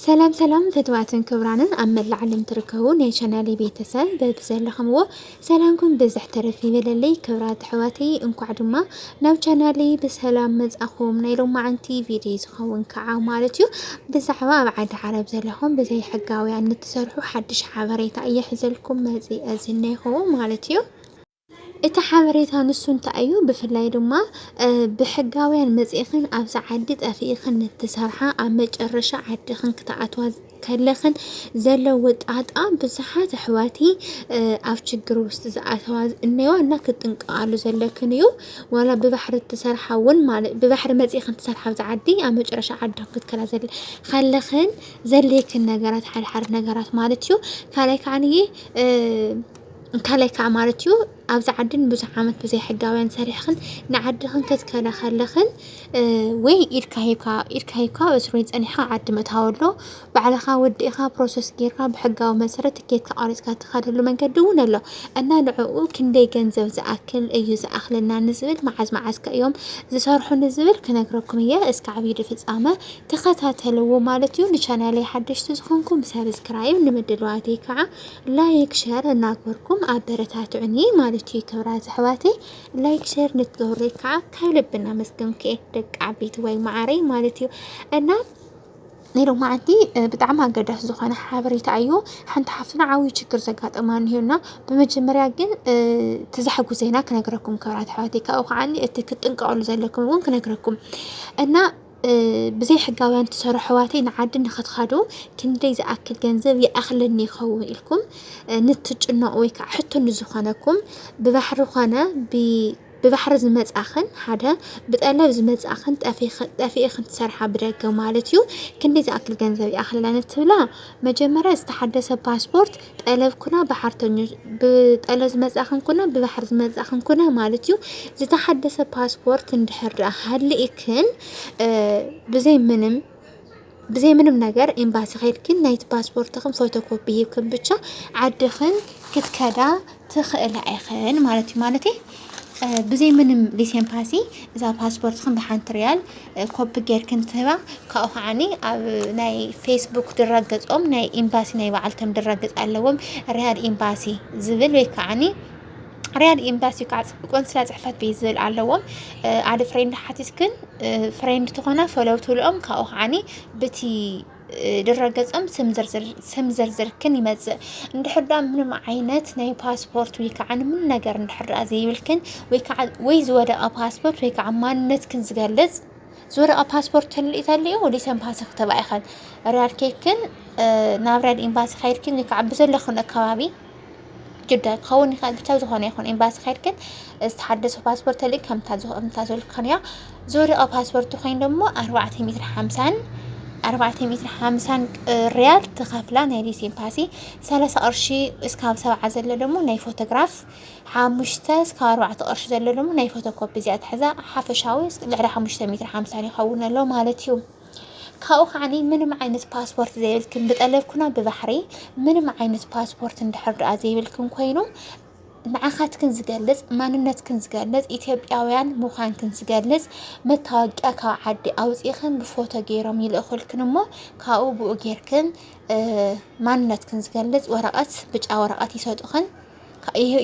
ሰላም ሰላም ፍትዋትን ክብራንን ኣብ መላእ ዓለም ትርከቡ ናይ ቻናል ቤተሰብ በብዘለኹምዎ ሰላምኩም ብዝሕ ተረፍ ይበለለይ። ክብራት ኣሕዋተይ እንኳዕ ድማ ናብ ቻናል ብሰላም መጻኹም። ናይ ሎማዓንቲ ቪድዮ ዝኸውን ከዓ ማለት እዩ ብዛዕባ ኣብ ዓዲ ዓረብ ዘለኹም ብዘይ ሕጋውያን ንትሰርሑ ሓድሽ ሓበሬታ እየ ሒዘልኩም መፂ እዝነይኹ ማለት እዩ። እቲ ሓበሬታ ንሱ እንታይ እዩ ብፍላይ ድማ ብሕጋውያን መጺእኽን ኣብዛ ዓዲ ጠፊእኽን ንትሰርሓ ኣብ መጨረሻ ዓድኽን ክትኣትዋ ከለኽን ዘለዎ ጣጣ ብዙሓት ኣሕዋቲ ኣብ ችግር ውስጥ ዝኣተዋ እነዋ እና ክትጥንቀቃሉ ዘለክን እዩ ዋላ ብባሕሪ ትሰርሓ እውን ማለት ብባሕሪ መጺእኽን ትሰርሓ ኣብዛ ዓዲ ኣብ መጨረሻ ዓድኽን ክትከላ ዘለ ከለኽን ዘሌክን ነገራት ሓድሓድ ነገራት ማለት እዩ ካልኣይ ከዓንዬ እንታላይ ከኣ ማለት እዩ ኣብዚ ዓዲ ንብዙሕ ዓመት ብዘይ ሕጋውያን ሰሪሕኽን ንዓድኽን ክትከዳ ከለኽን ወይ ኢድካ ሂብካ ኢድካ ሂብካ በስሩይ ጸኒሕካ ዓዲ ምእታው ኣሎ ባዕልኻ ወዲእኻ ፕሮሰስ ጌርካ ብሕጋዊ መሰረት ትኬትካ ቆሪጽካ ትኸደሉ መንገዲ እውን ኣሎ እና ንዕኡ ክንደይ ገንዘብ ዝኣክል እዩ ዝኣኽለና ንዝብል መዓዝ መዓዝ ከ እዮም ዝሰርሑ ንዝብል ክነግረኩም እየ እስከ ዓብዪ ድፍጻመ ተኸታተልዎ ማለት እዩ ንቻናለይ ሓደሽቲ ዝኾንኩም ሰብስክራይብ ንምድለዋተይ ከዓ ላይክ ሸር እናግበርኩም ኣበረታትዑኒ ማለት እዩ ክብራ ዘሕዋተይ ላይክ ሸር ንትገብሩይ ከዓ ካብ ልቢ እናመስገንኩ እየ ደቂ ዓበይቲ ወይ መዓረይ ማለት እዩ እና ናይ ሎማዓንቲ ብጣዕሚ ኣገዳሲ ዝኾነ ሓበሬታ እዩ። ሓንቲ ሓፍትና ዓብዪ ችግር ዘጋጠማ እኒሆና ብመጀመርያ ግን እቲ ዘሕጉዘና ክነግረኩም ክብራት ኣሕዋተይ ካብኡ ከዓኒ እቲ ክትጥንቀቕሉ ዘለኩም እውን ክነግረኩም እና ብዘይ ሕጋውያን ትሰርሑ ኣሕዋተይ ንዓዲ ንክትኸዱ ክንደይ ዝኣክል ገንዘብ ይኣኽለኒ ይኸውን ኢልኩም ንትጭነቑ ወይ ከዓ ሕቶ ንዝኾነኩም ብባሕሪ ኾነ ብባሕሪ ዝመጻኽን ሓደ ብጠለብ ዝመጻኽን ጠፊእኽን ትሰርሓ ብደገ ማለት እዩ። ክንደይ ዝኣክል ገንዘብ ይኣኽለና ንትብላ መጀመርያ ዝተሓደሰ ፓስፖርት ጠለብ ኩና ብሓርተኞች ብጠለብ ዝመጻእክን ኩና ብባሕሪ ዝመጻእክን ኩና ማለት እዩ ዝተሓደሰ ፓስፖርት እንድሕር ድኣ ሃሊእክን ብዘይ ምንም ብዘይ ምንም ነገር ኤምባሲ ከይድክን ናይቲ ፓስፖርትክን ፎቶኮፒ ሂብክን ብቻ ዓድክን ክትከዳ ትኽእላ ኢኽን ማለት እዩ ማለተይ ብዘይ ምንም ሊሴምፓሲ እዛ ፓስፖርትክን ብሓንቲ ሪያል ኮፒ ጌርክን ትህባ ካብኡ ከዓኒ ኣብ ናይ ፌስቡክ ድረገፆም ናይ ኤምባሲ ናይ በዓልቶም ድረገፅ ኣለዎም ሪያድ ኤምባሲ ዝብል ወይ ከዓኒ ሪያድ ኤምባሲ ከዓ ቆንስላ ፅሕፈት ቤት ዝብል ኣለዎም ኣደ ፍሬንድ ሓቲትክን ፍሬንድ ትኾና ፈለው ትብልኦም ካብኡ ከዓኒ ብቲ ድረገጽም ስም ዝርዝር ስም ዝርዝርክን ይመጽእ እንድሕር ደኣ ምንም ዓይነት ናይ ፓስፖርት ወይ ከዓ ምን ነገር እንድሕር ደኣ ዘይብልክን ወይ ከዓ ወይ ዝወደቐ ፓስፖርት ወይ ከዓ ማንነትክን ዝገልጽ ዝወደቐ ፓስፖርት ተልኢ ተልኡ ወዲስ ኤምባሲ ክትብኣ ኢኸን ሪያድ ኬክን ናብ ሪያድ ኤምባሲ ከይድክን ወይ ከዓ ብዘለክን ከባቢ ግዳይ ክኸውን ይኽእል ብቻ ዝኾነ ይኹን ኤምባሲ ከድክን ዝተሓደሰ ፓስፖርት ተልእክ ከምታዘልካንያ ዝወደቐ ፓስፖርት ኮይኑ ደግሞ ኣርባዕተ ሜትር ሓምሳን ኣርባዕተ ሜትር ሓምሳን ሪያል ትኸፍላ ናይ ሊስ ኤምባሲ ሰላሳ ቅርሺ እስካብ ሰብዓ ዘሎ ደግሞ ናይ ፎቶግራፍ ሓሙሽተ እስካብ ኣርባዕተ ቅርሺ ዘሎ ደግሞ ናይ ፎቶኮፒ እዚኣ ትሕዛ ሓፈሻዊ ልዕሊ ሓሙሽተ ሜትር ሓምሳን ይኸውን ኣሎ ማለት እዩ ካብኡ ከዓኒ ምንም ዓይነት ፓስፖርት ዘይብልክን ብጠለብኩና ብባሕሪ ምንም ዓይነት ፓስፖርት እንድሕር ድኣ ዘይብልክን ኮይኑ ንዓኻትክን ዝገልፅ ማንነትክን ዝገልፅ ኢትዮጵያውያን ምዃንክን ዝገልፅ መታወቂያ ካብ ዓዲ ኣውፂእኽን ብፎቶ ገይሮም ይልእኹልክን እሞ ካብኡ ብኡ ገይርክን ማንነትክን ዝገልፅ ወረቐት ብጫ ወረቐት ይሰጡኽን።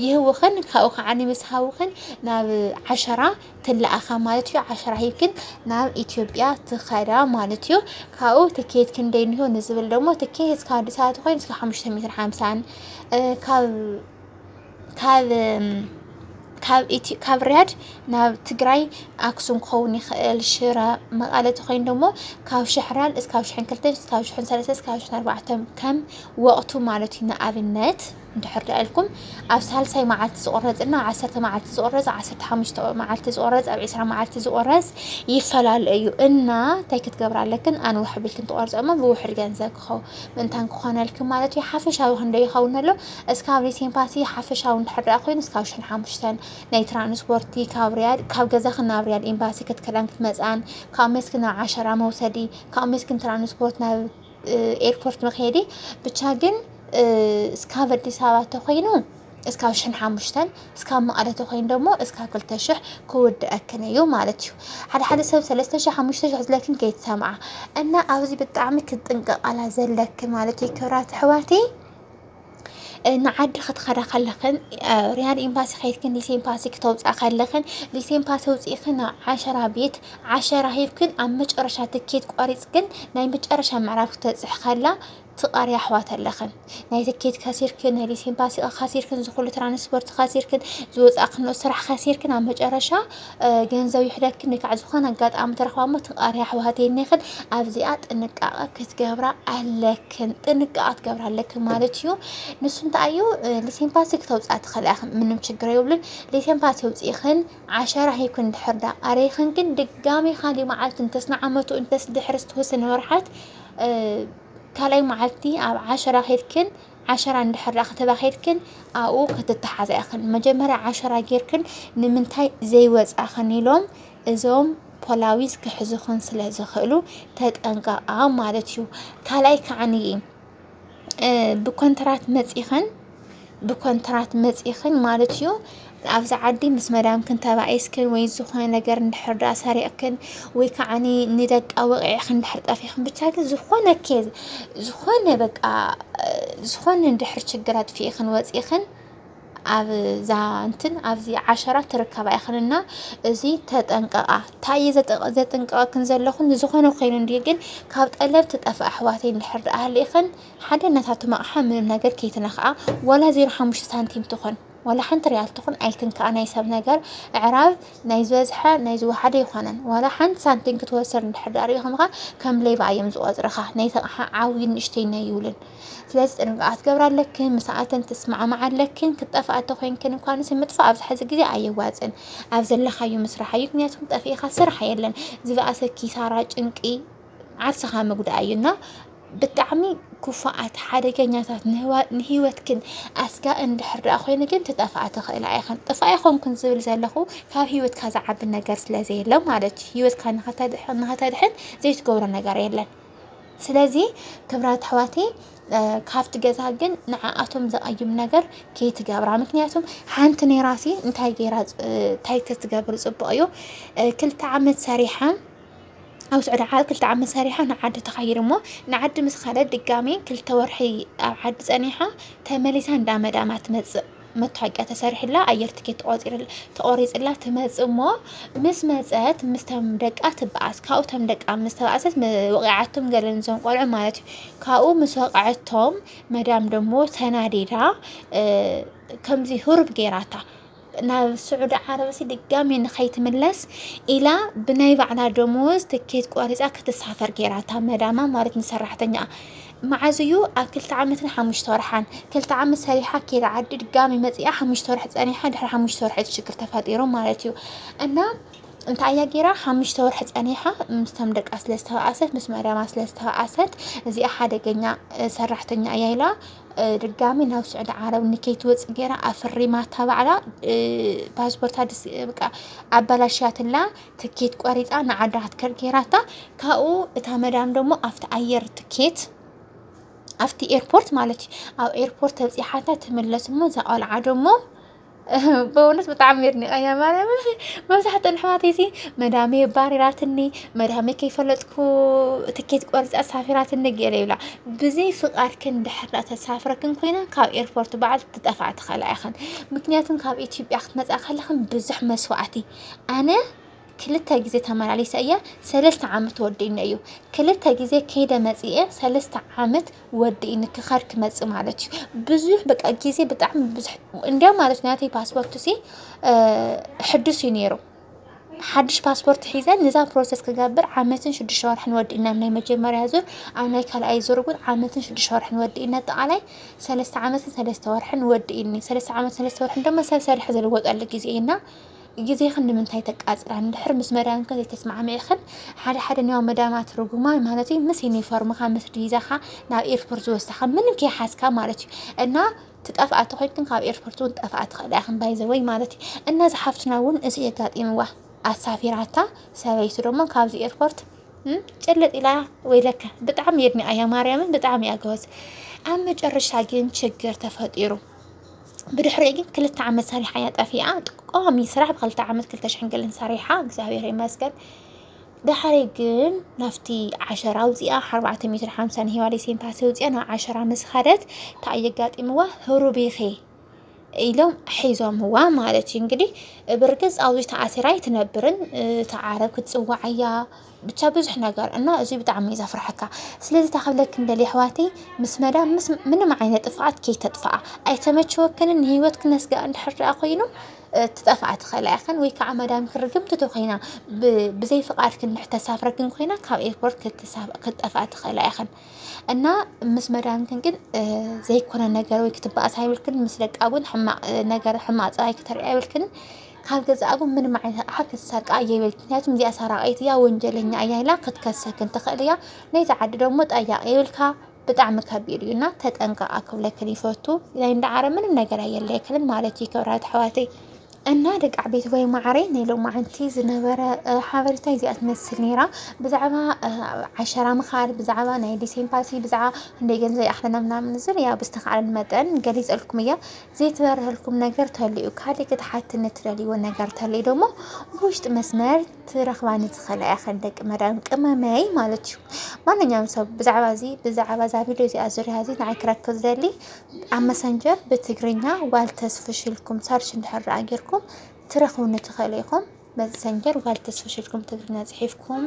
ይህብኽን ካብኡ ከዓ ምስ ሃብኽን ናብ ዓሸራ ትለኣኻ ማለት እዩ ዓሸራ ሂብክን ናብ ኢትዮጵያ ትኸዳ ማለት እዩ ካብኡ ትኬት ክንደይ እንሆ ንዝብል ደግሞ ትኬት እስከ ኣዲስ ኣበባ ትኾይን እስከ ሓሙሽተ ሜትር ሓምሳን ካብ ካብ ካብ ርያድ ናብ ትግራይ ኣክሱም ክኸውን ይኽእል ሽረ መቐለ ተኾይኑ ደሞ ካብ ሽሕራን እስካብ ሽሕን ክልተን እስካብ ሽሕን ሰለስተን እስካብ ሽሕን ኣርባዕተን ከም ወቕቱ ማለት እዩ ንኣብነት እንድሕር ደኣ ኢልኩም ኣብ ሳልሳይ መዓልቲ ዝቑረጽ እና ዓሰርተ መዓልቲ ዝቑረጽ ዓሰርተ ሓሙሽተ መዓልቲ ዝቑረጽ ኣብ ዕስራ መዓልቲ ዝቑረጽ ይፈላለ እዩ እና እንታይ ክትገብር ኣለክን ኣንውሕ ቢልክን ትቖርጾ እሞ ብውሕድ ገንዘብ ክኸው ምእንታን ክኾነልክን ማለት እዩ ሓፈሻዊ ክንዶ ይኸውን ኣሎ እስካብ ሪሴምፓሲ ሓፈሻዊ እንድሕር ደኣ ኮይኑ እስካብ ሽሕን ሓሙሽተን ናይ ትራንስፖርቲ ካብ ሪያድ ካብ ገዛኽን ናብ ሪያድ ኤምባሲ ክትከዳን ክትመጽኣን ካብ መስክን ናብ ዓሸራ መውሰዲ ካብ መስክን ትራንስፖርት ናብ ኤርፖርት መክየዲ ብቻ ግን እስካብ ኣዲስ ኣበባ ተኮይኑ እስካብ ሽን ሓሙሽተን እስካብ መቐለ ተኮይኑ ደሞ እስካብ ክልተ ሽሕ ክውድኣክን እዩ ማለት እዩ ሓደ ሓደ ሰብ ሰለስተ ሽሕ ሓሙሽተ ሽሕ ዝለክን ከይትሰምዓ እና ኣብዚ ብጣዕሚ ክትጥንቀቃላ ዘለክን ማለት እዩ ክብራት ኣሕዋተይ ንዓዲ ክትኸዳ ከለኽን ሪያድ ኤምባሲ ከይድክን ሊሴ ኤምባሲ ክተውፅኣ ከለኽን ሊሴ ኤምባሲ ውፅኢኽን ናብ ዓሸራ ቤት ዓሸራ ሂብክን ኣብ መጨረሻ ትኬት ቆሪፅክን ናይ መጨረሻ ምዕራፍ ክተፅሕ ከላ ትቐርያ ኣሕዋት ኣለኽን ናይ ትኬት ከሲርክን ናይ ሊሴ ኤምባሲ ከሲርክን ዝኹሉ ትራንስፖርት ከሲርክን ዝወፃእክን ስራሕ ከሲርክን ኣብ መጨረሻ ገንዘብ ይሕደኪ እንካዕ ዝኾነ ኣጋጣሚ ተረኽባ እሞ ትቃሪ ኣሕዋት የኔኽን ኣብዚኣ ጥንቃቐ ክትገብራ ኣለክን ጥንቃቐ ክትገብራ ኣለክን ማለት እዩ ንሱ እንታይ እዩ ሊሴምፓሲ ክተውፅኣ ትኽእላ ኢኽን ምንም ችግር የብሉን ሊሴምፓሲ ውፅኢኽን ዓሸራ ሂብክን እንድሕር ዳ ቃሪኽን ግን ድጋሚ ካሊእ መዓልቲ እንተስ ንዓመቱ እንተስ ድሕሪ ዝተወሰነ ወርሓት ካልኣይ መዓልቲ ኣብ ዓሸራ ኬድክን ዓሸራ እንድሕር ደኣ ከተባ ኬድክን ኣብኡ ክትተሓዛ ኢኽን። መጀመርያ ዓሸራ ጌርክን ንምንታይ ዘይወጻእኽን ኢሎም እዞም ፖላዊስ ክሕዙኽን ስለ ዝኽእሉ ተጠንቀቓ ማለት እዩ። ካልኣይ ከዓኒ ብኮንትራት መጺኽን ብኮንትራት መጺኽን ማለት እዩ ኣብዛ ዓዲ ምስ መዳምክን ተባኢስክን ወይ ዝኾነ ነገር እንድሕር ደኣ ሰሪቕክን ወይ ከዓ ንደቃ ወቂዕክን እንድሕር ጠፊኽን ብቻ ግን ዝኾነ ኬዝ ዝኾነ በቃ ዝኾነ እንድሕር ችግር ኣጥፊእኽን ወፂእኽን ኣብዛ እንትን ኣብዚ ዓሸራ ትርከባ ኢኽን እና እዚ ተጠንቀቓ እንታይ እየ ዘጥንቀቐክን ዘለኹ ንዝኾነ ኮይኑ እንዲ ግን ካብ ጠለብ ትጠፍ ኣሕዋተይ እንድሕር ድኣ ሃሊእኽን ሓደ ነታቶም ኣቕሓ ምንም ነገር ከይትነኽኣ ዋላ ዜሮ ሓሙሽተ ሳንቲም ትኾን ዋላ ሓንቲ ርያል ትኹን ኣይትንካኣ ናይ ሰብ ነገር ኣዕራብ ናይ ዝበዝሐ ናይ ዝወሓደ ኣይኮነን ዋላ ሓንቲ ሳንቲም ክትወሰድ እንድሕር ድኣ ሪኢኹምኻ ከም ሌባ እዮም ዝቆጽርኻ ናይቲ ኣቕሓ ዓብይን ንእሽተይን ኣይብሉን ስለዚ ጥንቃቐ ክትገብራ ኣለክን ምስኣተን ትስማዕማዓ ኣለክን ክትጠፍኣ እንተኮይንክን እኳ ንስ ምጥፋእ ኣብዚ ሕዚ ግዜ ኣየዋጽን ኣብ ዘለኻዮ ምስራሕ እዩ ምክንያቱም ጠፊእኻ ስራሕ የለን ዝበኣሰ ኪሳራ ጭንቂ ዓርስኻ ምጉዳእ እዩ እና ብጣዕሚ ክፉኣት ሓደገኛታት ንሂወትክን ኣስጋእ እንድሕር ደኣ ኮይኑ ግን ትጠፍኣ ትኽእላ ኢኽን ጥፋ ኣይኮንኩን ዝብል ዘለኹ ካብ ሂወትካ ዝዓቢ ነገር ስለ ዘየለ ማለት እዩ ሂወትካ ንኸተድሕን ዘይትገብሮ ነገር የለን ስለዚ ክብራት ኣሕዋተይ ካብቲ ገዛ ግን ንዓኣቶም ዘቐይም ነገር ከይትገብራ ምክንያቱም ሓንቲ ናይ ራሲ እንታይ ገይራ እንታይ ተትገብር ፅቡቕ እዩ ክልተ ዓመት ሰሪሓ ኣብ ስዑዲ ዓረብ ክልተ ዓመት ሰሪሓ ንዓዲ ተኻይደ እሞ ንዓዲ ምስ ኸደት ድጋሜ ክልተ ወርሒ ኣብ ዓዲ ፀኒሓ ተመሊሳ እንዳ መዳማ ትመፅእ መታወቂያ ተሰሪሕላ ኣየር ትኬት ተቆሪፅላ ትመፅእ እሞ ምስ መፀት ምስተም ደቃ ትበኣስ ካብኡ ተም ደቃ ምስ ተባእሰት ወቂዓቶም ገለ ንዞም ቆልዑ ማለት እዩ ካብኡ ምስ ወቅዐቶም መዳም ደሞ ተናዲዳ ከምዚ ሁሩብ ገይራታ ናብ ስዑዲ ዓረብሲ ድጋሚ ንኸይትምለስ ኢላ ብናይ ባዕላ ደሞዝ ትኬት ቆሪፃ ክትሳፈር ገይራታ መዳማ ማለት ንሰራሕተኛኣ መዓዝ እዩ ኣብ ክልተ ዓመትን ሓሙሽተ ወርሓን ክልተ ዓመት ሰሪሓ ኬዳ ዓዲ ድጋሚ መፂኣ ሓሙሽተ ወርሒ ፀኒሓ ድሕሪ ሓሙሽተ ወርሒ እቲ ሽግር ተፈጢሩ ማለት እዩ እና እንታይ እያ ጌራ ሓሙሽተ ወርሒ ፀኒሓ ምስቶም ደቃ ስለ ዝተባኣሰት ምስ መዳማ ስለ ዝተባኣሰት እዚኣ ሓደገኛ ሰራሕተኛ እያ ኢላ ድጋሚ ናብ ስዑዲ ዓረብ ንከይትወፅእ ገይራ ኣፍሪማታ ባዕላ ፓስፖርታ ድስ በቃ ኣበላሽያትላ ትኬት ቆሪፃ ንዓዳ ክትከድ ገይራታ ካብኡ እታ መዳም ደሞ ኣብቲ ኣየር ትኬት ኣብቲ ኤርፖርት ማለት እዩ ኣብ ኤርፖርት ተብፂሓታ ትምለስ እሞ እዛ ቆልዓ ደሞ በእውነት ብጣዕሚ የድኒቐያ ማርያም መብዛሕትኡ ኣሕዋተይ ሲ መዳመ የባሪራትኒ መዳመ ከይፈለጥኩ ትኬት ቆርፃ ኣሳፊራትኒ ገለ ይብላ ብዘይ ፍቃድክን ድሕር ተሳፍረክን ኮይነን ካብ ኤርፖርት በዓል ትጠፍኣ ትኸላ ኢኽን ምክንያቱም ካብ ኢትዮጵያ ክትመፃ ከለኽን ብዙሕ መስዋእቲ ኣነ ክልተ ግዜ ተመላሊሰ እየ ሰለስተ ዓመት ወዲእኒ እዩ ክልተ ግዜ ከይደ መፅኤ ሰለስተ ዓመት ወዲእኒ ክኸድ ክመፅእ ማለት እዩ ብዙሕ በቃ ግዜ ብጣዕሚ ብዙሕ እንዲያው ማለት ናተይ ፓስፖርት ሲ ሕዱስ እዩ ነይሩ ሓድሽ ፓስፖርት ሒዘን ንዛ ፕሮሰስ ክገብር ዓመትን ሽዱሽተ ወርሕን ወዲእና ናይ መጀመርያ ዙር ኣብ ናይ ካልኣይ ዙር እውን ዓመትን ሽዱሽተ ወርሕን ወዲእና ኣጠቃላይ ሰለስተ ዓመትን ሰለስተ ወርሕን ወዲእኒ ሰለስተ ዓመት ሰለስተ ወርሕን ድማ ሰብ ሰርሐ ዝልወጠሉ ግዜ እዩና ግዜኽን ንምንታይ ተቃጽራ እንድሕር ምስ መዳምክን ዘይተስማዕሚዕክን ሓደ ሓደ ንያው መዳማት ርጉማን ማለት እዩ ምስ ዩኒፎርምካ ምስ ዲዛኻ ናብ ኤርፖርት ዝወስዳኻ ምንም ከይሓዝካ ማለት እዩ እና ትጠፍኣ ተኮይንክን ካብ ኤርፖርት እውን ጠፍኣ ትኽእላ ኢኽን ባይዘወይ ማለት እዩ እና እዚ ሓፍትና እውን እዚ የጋጢምዋ ኣሳፊራታ ሰበይቱ ደሞ ካብዚ ኤርፖርት እም፣ ጭልጥ ኢላ ወይ ለካ ብጣዕሚ የድኒኣያ ማርያምን ብጣዕሚ እያ ጎበዝ ኣብ መጨረሻ ግን ችግር ተፈጢሩ ብድሕሪኡ ግን ክልተ ዓመት ሰሪሓ እያ ጠፊኣ ቋሚ ስራሕ ብክልተ ዓመት ክልተ ሽሕን ገለን ሰሪሓ እግዚኣብሔር ይመስገን ዳሓረይ ግን ናብቲ ዓሸራ ኣውፂኣ ኣርባዕተ ሜትሮ ሓምሳ ንሂዋደይ ሴንታሲ ኣውፂኣ ናብ ዓሸራ ምስ ኸደት እንታይ እዩ ኣጋጢምዋ ህሩቢኺ ኢሎም ሒዞምዋ ማለት እዩ እንግዲህ ብርግፅ ኣብዚ ተኣሲራ ኣይትነብርን እቲ ዓረብ ክትፅዋዕ እያ ብቻ ብዙሕ ነገር እና እዙይ ብጣዕሚ እዩ ዘፍርሐካ ስለዚ እንታይ ክብለኪ ንደሊ ኣሕዋተይ ምስ መዳም ምስ ምንም ዓይነት ጥፍኣት ከይተጥፍኣ ኣይተመቸወክንን ንሂወት ክነስግኣ እንድሕር ድኣ ኮይኑ ትጠፍኣ ትኽእላ ኢኽን ወይ ከዓ መዳምኪ ርግምቲ ተኾይና ብዘይ ፍቓድኪ እንድሕር ተሳፍረክን ኮይና ካብ ኤርፖርት ክትጠፍኣ ትኽእላ ኢኽን እና ምስ መዳምክን ግን ዘይኮነ ነገር ወይ ክትበኣሳ የብልክን ምስ ደቃ እውን ሕማቕ ነገር ሕማቕ ፀባይ ክተርእያ የብልክን ካብ ገዛኣ ግን ምንም ዓይነት ኣቕሓ ክትሰርቅ ኣየብልክን ምክንያቱም እዚኣ ሰራቂት እያ ወንጀለኛ እያ ኢላ ክትከሰክን ትኽእል እያ ናይዛ ዓዲ ደግሞ ጠያቂ ይብልካ ብጣዕሚ ከቢድ እዩ እና ተጠንቀቃ ክብለክን ይፈቱ ናይ እንዳ ዓረብ ምንም ነገር ኣየለየክልን ማለት እዩ ክብራት ኣሕዋተይ እና ደቂ ዓበይቲ ወይ ማዕረይ ናይ ሎማዓንቲ ዝነበረ እ፣ ሓበሬታ እዚኣ ትመስል ነይራ ብዛዕባ እ፣ ዓሸራ ምኻድ ብዛዕባ ናይ ዲስ ኤምባሲ ብዛዕባ ክንደይ ገንዘብ ይኣኽለና ምናምን ዝብል ያው ብዝተኻእለን መጠን ገሊፀልኩም እያ ዘይተበርሀልኩም ነገር ተልዩ ካልእ ክትሓትኒ ትደልይዎ ነገር ተልዩ ደሞ ብውሽጢ መስመር ትረኽባኒ ትኽእላ ኢኽን ደቂ መዳም ቅመመይ ማለት እዩ። ማንኛውም ሰብ ብዛዕባ እዚ ብዛዕባ እዛ ቪድዮ እዚኣ ዙርያ እዚ ንዓይ ክረክብ ዝደሊ ኣብ መሰንጀር ብትግርኛ ዋልተስ ፍሽልኩም ሰርች እንድሕር ደኣ ጌርኩም ትረኽቡኒ ትኽእሉ ኢኹም። መሰንጀር ጓል ተስፍሽ ኢልኩም ትግርኛ ጽሒፍኩም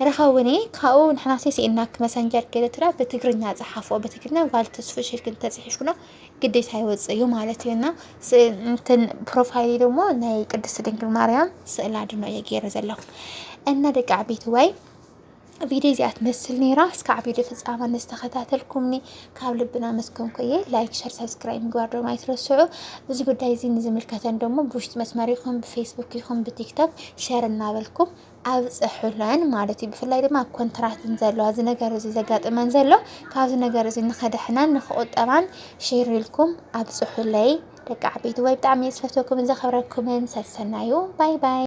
ርኸቡኒ ካብኡ ንሕናሲ ስኢናክ መሰንጀር ገለትራ ብትግርኛ ጸሓፎ ብትግርኛ ጓል ተስፍሽ ኢልክን ተጽሒፍኩኖ ግዴታ ይወጽእ እዩ ማለት እዩ እና እንትን ፕሮፋይሊ ደግሞ ናይ ቅድስት ድንግል ማርያም ስእላ ድኖ እየ ገይረ ዘለኹ እና ደቂ ዓበይቲ ወይ ቪድዮ እዚኣ ትመስል ነይራ። እስካዕ ቪድዮ ፍፃማ ንዝተኸታተልኩምኒ ካብ ልብና ኣመስገንኩ እየ። ላይክ፣ ሸር፣ ሰብስክራይብ ምግባር ደሞ ኣይትረስዑ። እዚ ጉዳይ እዚ ንዝምልከተን ደሞ ብውሽጢ መስመር ይኹን ብፌስቡክ ይኹን ብቲክቶክ ሸር እናበልኩም ኣብፅሑለን ማለት እዩ። ብፍላይ ድማ ኣብ ኮንትራትን ዘለዋ እዚ ነገር እዚ ዘጋጥመን ዘሎ ካብዚ ነገር እዚ ንኸደሕናን ንክቁጠባን ሼር ኢልኩም ኣብፅሑለይ ደቂ ዓበይቲ ወይ ብጣዕሚ ዝፈተኩም ዘኸብረኩምን ሰሰናዩ ባይ ባይ